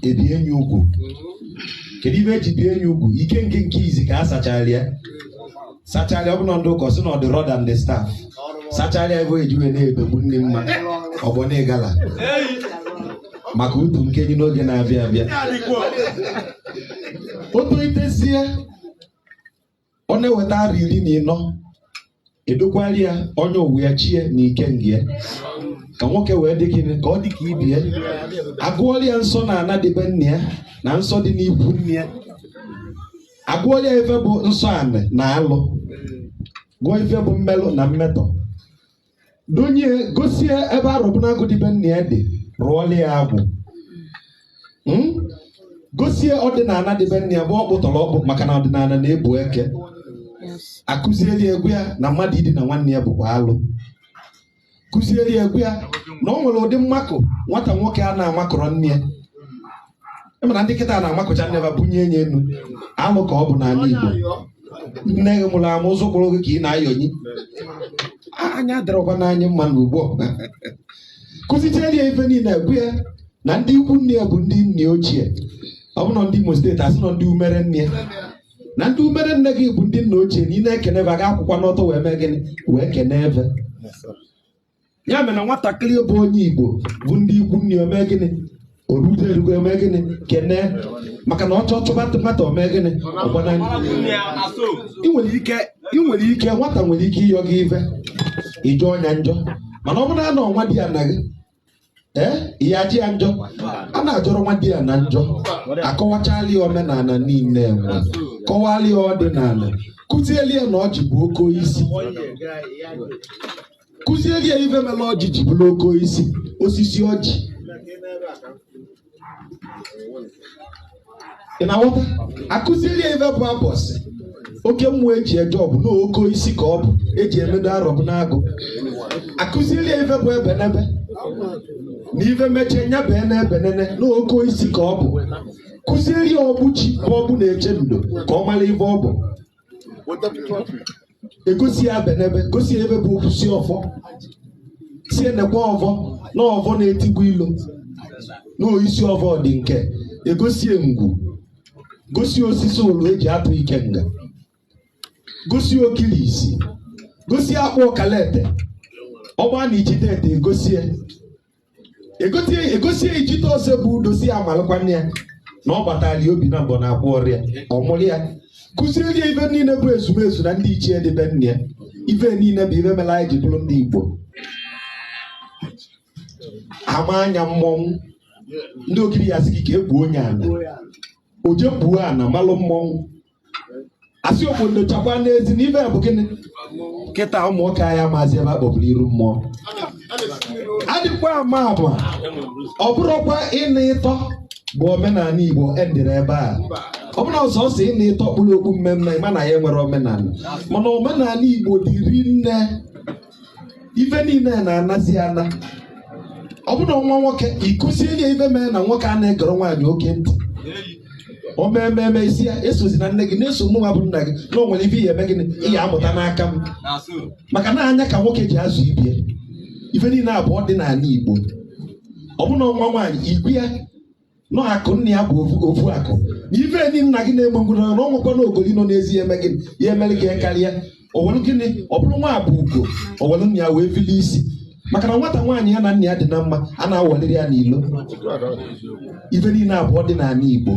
ebie nya ugwu kedu ife eji bie nya ugwu ike nke nke izi ka a sachara ya sachara ọbụna ndị ụkọ si na ọ dị rọda ndị staf sachara ebe eji wee na-ebegbu ndị mma ọgbọ na ịgala maka utu nke nya n'oge na-abịa abịa o tolitezie o nweta arọ iri na ịnọ edokwara ya onye ụwa ya chi ya na ikenga ya ka nwoke wee dị gịnị ka ọ dị ka ibe ya agụọla ya nsọ na ana dị be nna ya na nsọ dị n'ikwu nne ya agụọla ya ife bụ nsọ anị na alụ gụọ ife bụ mmelụ na mmetọ donye gosi ya ebe arọbụnagụ dị be nna ya dị rụọla ya agwụ Hmm? gosi ya ọdịnana dị be nna ya bụ ọkpụ tọrọ ọkpụ maka na ọdịnana na-ebu eke akụziere ya gwa ya na mmadụ idina nwanne ya bụkwa alụ kụziere ya gwa ya na o nwere ụdị mmakụ nwata nwoke a na-amakụrọ nne ya ị ma na ndị kịta na-amakụcha nne fa bunye nya enu alụ ka ọ bụ n'ana Igbo nne gị mụrụ amụ ụzọ kwụrụ gị ka ị na-ayọnyi anya adịrọkwa n'anya mma na ugbu a kụzichara ya ife niile gwa ya na ndị ikwu nne ya bụ ndị nne ochie ọ bụ na ndị Imo steeti asị na ndị umere nne ya na ndị umere nne gị bụ ndị nna ochie na ị na-ekene fa a ga-akwụkwa n'ọtọ wee mee gịnị wee kene fa ya mere na nwatakịrị bụ onye igbo fụ ndị ikwu nne o mee gịnị o rute erugo o mee gịnị kene maka na ọsọ chụba nwata o mee gịnị ọ gbana ị nwere ike ị nwere ike nwata nwere ike ịyọ gị ive ị jọọ nya njọ mana ọ bụrụ na ọ nwadiana gị ee ị ya-ajọ ya njọ a na-ajọrọ nwadiana njọ akọwachala ya omenana niile e wee kọwala ya ọdịnana kụzieli ya na ọjị bụ oke oisi kụzieli ya ife mere ọjị ji bụrụ oke oisi osisi ọjị ị na-aghọta akụziri ya ife bụ abọsị oke mmụọ eji eje ọgụ na oke oisi ka ọ bụ eji emedo arọbụnagụ akụziri ya ife bụ ebenebe na ife mechie nya ebenebe nene na oke oisi ka ọ bụ kụzieri ya ọgbụ chi bụ ọgbụ na-eche ndo ka ọ mara ife ọ bụ egosi ya ebenebe gosi ya ebe bụ okwu si ọfọ sị ya nekwe ọfọ na ọfọ na-etigbu ilo na oisi ọfọ dị nke egosi ya ngwu gosi ya osisi ụlọ eji atụ ikenga gosi ya ogirisi gosi ya akpụ ọkalete ọgba na ijide ete egosi ya egosi ya ijite ọsọ bụ dozi ya malụkwa nne ya na ọ gbatara ya obi na mbọ na akwa ọrịa ọ mụrụ ya kuziri ya ife niile bụ ezumezu na ndị ichie dị be nna ya ife niile bụ ife mere anyị ji bụrụ ndị Igbo ama anya mmọnwụ ndị okiri ya sị gị ka egbuo onye ala oje gbuo ana malụ mmọnwụ asị okwu ndochakwa n'ezi na ife bụ gịnị kịta ụmụ nwoke anyị amazi ife a kpọburu iru mmụọ adịkwa ama abụọ ọ bụrọkwa ịna ịtọ bụ omenala Igbo endịrị ebe a ọ bụrọ sọọsọ ịna ịtọ kpuru okpu mmemme ị mana i nwere omenala mana omenala Igbo dị rinne ife niile na-anazi ana ọ bụrụ nwa nwoke i kuzieli ya ife mere na nwoke a na-egoro nwaanyị oke ntị o mee ememe ị sị ya esozina nne gị na-eso mụnwa bụ nna gị na o nwere ife ị ya-eme gịnị ị ya-amụta n'aka m maka na anya ka nwoke ji azụ ibie ife niile a bụ ọdịnala Igbo ọ bụrụ na nwa nwaanyị ị gwa ya na ọ akụ nna ya bụ ofu- ofu akụ na ife enyi nna gị na-egbu mgbu na ọnwụkwa na ogoli nọ n'ezi ya eme gị ya emere gị ya karịa o welu gịnị ọ bụrụ nwa bụ ugo o welu nna ya wee fili isi maka na nwata nwaanyị ya na nna ya dị na mma a na-awaliri ya n'ilo ife niile a bụ ọdịnala Igbo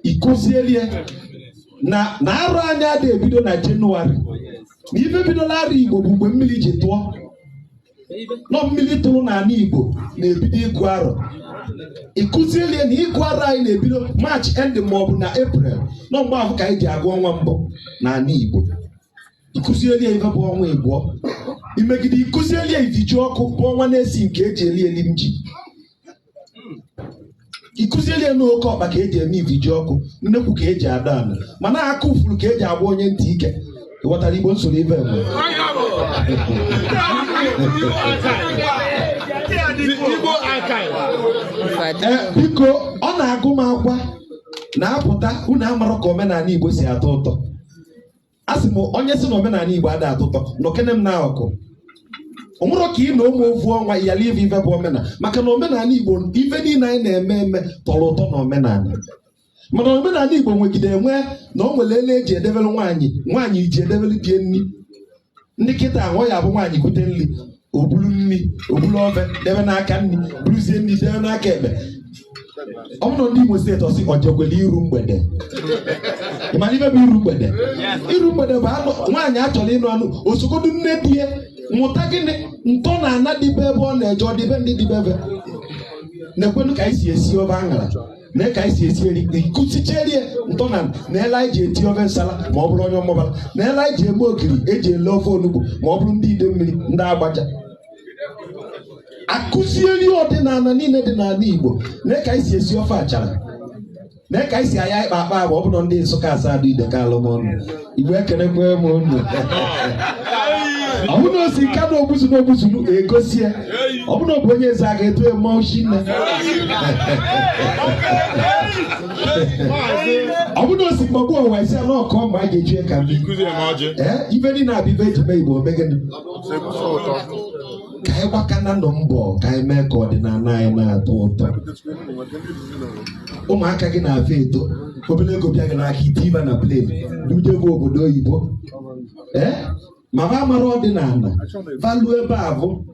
i kuzielie na arọ anyị ada ebido na Jenụwarị na ife bidola arọ Igbo bụ mgbe mmiri ji tụọ na ọ mmiri tụrụ n'ala Igbo na-ebido ịgụ arọ i kuzieli ya na ịgụ arọ anyị na-ebido maachị end ma ọ bụ na eprel na ọ mgbe ahụ ka anyị ji agụ ọnwa mbụ n'ala Igbo i kuzieli ya ife bụ ọnwa ịbụọ i megide i kuzieli ya ivijiọkụ bụ ọnwa n'isii nke eji eli elim ji i kuzieli ya na oke ọkpa ka eji eme ivijiọkụ nnekwu ka eji ada ala mana aka ufuru ka eji agwa onye ntị ike ị ghọtara igbo m sụrụ ibe mgbe Ee, biko ọ na-agụ m agụọ na-apụta unu amarọ ka omenala igbo si atọ ụtọ a sị m onye si na omenala Igbo ada atọ ụtọ nọkene m n'akụkụ o nwerọ ka ị nọ mụ ovu ọnwa yala ive ive bụ omenala maka na omenala Igbo ive niile anyị na-eme eme tọrọ ụtọ na omenala mana omenala Igbo nwegide enwe na o nwere ele eji edebere nwaanyị nwaanyị ji edebere die nri ndị kịta ahụ ya bụ nwaanyị kute nri o bulu nri o bulu ofe debe n'aka nri buruzie nri debe n'aka ekpe ọ bụrụ ndị Imo steeti ọ sị o jekwele iru mgbede ị malụ ife bụ iru mgbede iru mgbede bụ na nwaanyị a chọrọ ịnụ anụ o sogodu nne di ya mụta gịnị ntọ na ana dị be ebe ọ na-eje ọdịbendị dị be va nekwenu ka anyị si esi ofe aṅara nee ka anyị si esi eri kụzichere ntọ na na ele anyị ji ete ofe nsala ma ọ bụrụ onye Ọmambala na ele anyị ji eme ogiri eji ele ofe onugbu ma ọ bụrụ ndị Idemmiri ndị Agbaja akụziere ọdịnala niile dị n'ala Igbo nee ka anyị si esi ofe achara nee ka anyị si aya ọkpa akpa agwa ọ bụrụ ndị Nsụka Asadu Ideke Alụmọna Igbo ekenekwa m unu ọ bụ na o si Nkanụ Ogbuzuru Ogbuzuru egosi ya ọ bụ na ọ bụ onye Ezeagụ eto eme ochi nne ọ bụ na o si Mgbagbu Ọwa isi ala ọkọ ma a ga-eji ka mmiri ee ive niile a bụ ive eji mee Igbo o mee gịnị ka anyị gbakana nụ mbọ ka anyị mee ka ọdịnala anyị na-atọ ụtọ ụmụaka gị na-abụ eto obere ego bịa gị n'aka i tie va na plane bujebe obodo oyibo ee ma va amarọ ọdịnala value ebe a bụ